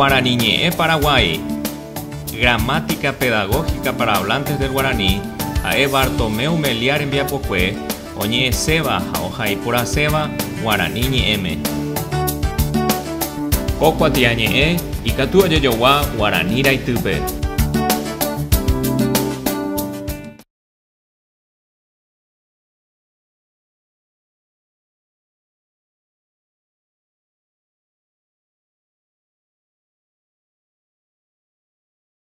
Guarani ñe'ẽ Paraguái. Gramática pedagógica para hablantes del guaraní ha'e Bartomeu Meliá rembiapokue Oñe'ẽséva ha ohaiporãséva guarani ñe'ẽme. Ko kuatiañe'ẽ ikatu ojejogua guarani raitýpe.